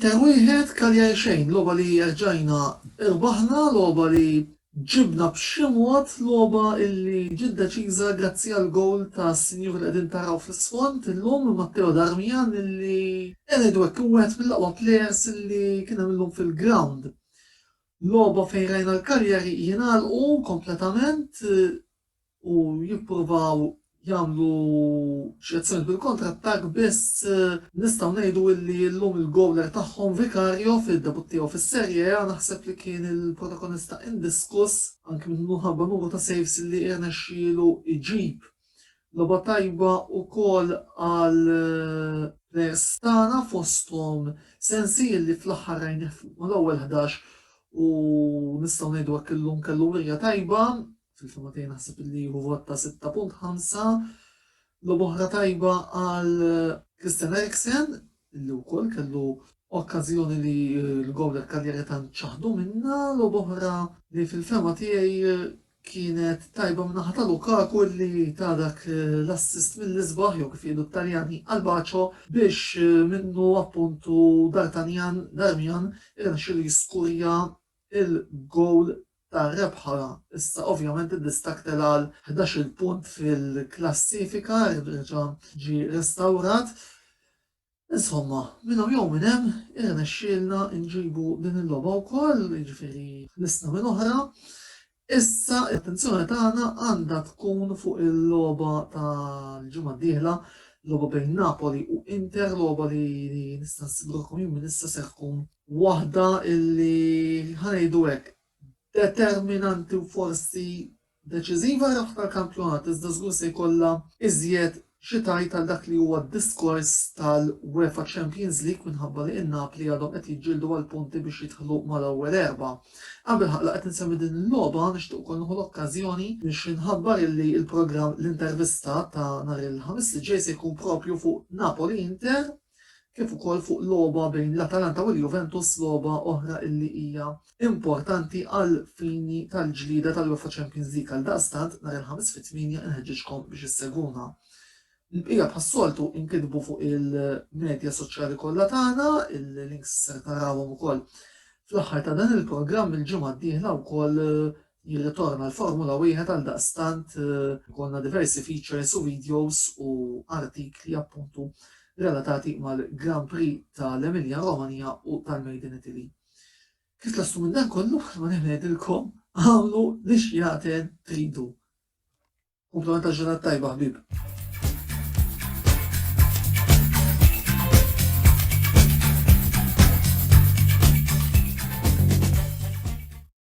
Inter wieħed, Cagliari xejn, logħba li erġajna rbaħna, logħba li ġibna b'xi mod, logħba li ġiet deċiża grazzi għall-gowl tas-sinjur li qegħdin taraw fl-isfond illum, Matteo Darmian li qiegħed ngħidu hekk hu wieħed mill-aqwa plejers li kien hemm illum fil-grawnd. Logħba fejn rajna l-Cagliari jingħalqu kompletament, u jippruvaw jagħmlu xi azzjoni bil-kontrattakk biss nistgħu ngħidu illi illum il-gowler tagħhom Vicario fid-debutt tiegħu fis-Serie A naħseb li kien il-protagonista indiskuss anki minħabba numru ta' saves illi irnexxielu jġib. Logħba tajba wkoll għal plejers tagħna fosthom Sensi illi fl-aħħar rajnih mal-ewwel ħdax u nistgħu ngħidu hekk illum kellu wirja tajba fil-fema tiegħi naħseb li hu vot ta' 6.5 lob oħra tajba għal eh, Christian Eriksen li wkoll kellu okkażjoni li eh, l-gowl karrieri ta' ċaħdu minna lob oħra li fil-fema tiegħi eh, kienet tajba minnaħa ta' Lukaku li ta' dak l-assist mill-isbaħ jew kif jgħidu t-Taljani għal-baċo biex minnu appuntu Dartanjan Darmian irnexxilu jiskurja il-gowl tar-rebħa issa ovvjament id-distakk tela' għal ħdax-il punt fil-klassifika, reġa' ġie restawrat. Insomma, minnhawn jew minn hemm irnexxielna nġibu din il-logħba wkoll, jiġifieri ħlisna minn oħra. Issa l-attenzjoni tagħna għandha tkun fuq il-logħba tal-ġimgħa d-dieħla, logħba bejn Napoli u Inter, logħba li nista' nassigurakom jien minn issa ser tkun waħda li, ħa ngħidu hekk, determinanti u forsi deċiżiva hija ħafna l-kampjonat iżda żgur se jkollha iżjed xi tgħid għal dak li huwa d-diskors tal-UEFA Champions League minħabba li in-Napli għadhom qed jiġġieldu għal punti biex jidħlu mal-ewwel erbgħa. Qabel la qed insemmi din il-logħba nixtieq ukoll nieħu l-okkażjoni biex inħabbar illi l-programm L-Intervista ta' nhar il-Ħamis li ġej se jkun propju fuq Napoli Inter kif ukoll fuq logħba bejn l-Atalanta u l-Juventus logħba oħra illi hija importanti għal fini tal-ġlieda tal-UEFA Champions League għaldaqstant nhar il-Ħamis fit-tmienja inħeġġiġkom biex issegwuna. Il-bqija bħas-soltu inkitbu fuq il-medja soċjali kollha tagħna, il-links ser tarawhom ukoll fl-aħħar ta' dan il-programm il-ġimgħa d-dieħla wkoll jirritorna l-Formula Wieħed għaldaqstant ikollna diversi features u videos u artikli appuntu relatati mal-Grand Prix tal-Emilia Romagna u tal-Made in Italy. Kif tlastu minn dan kollu, ma nħedilkom għamlu li xjaten tridu. Komplementa ġurnat tajba ħbib.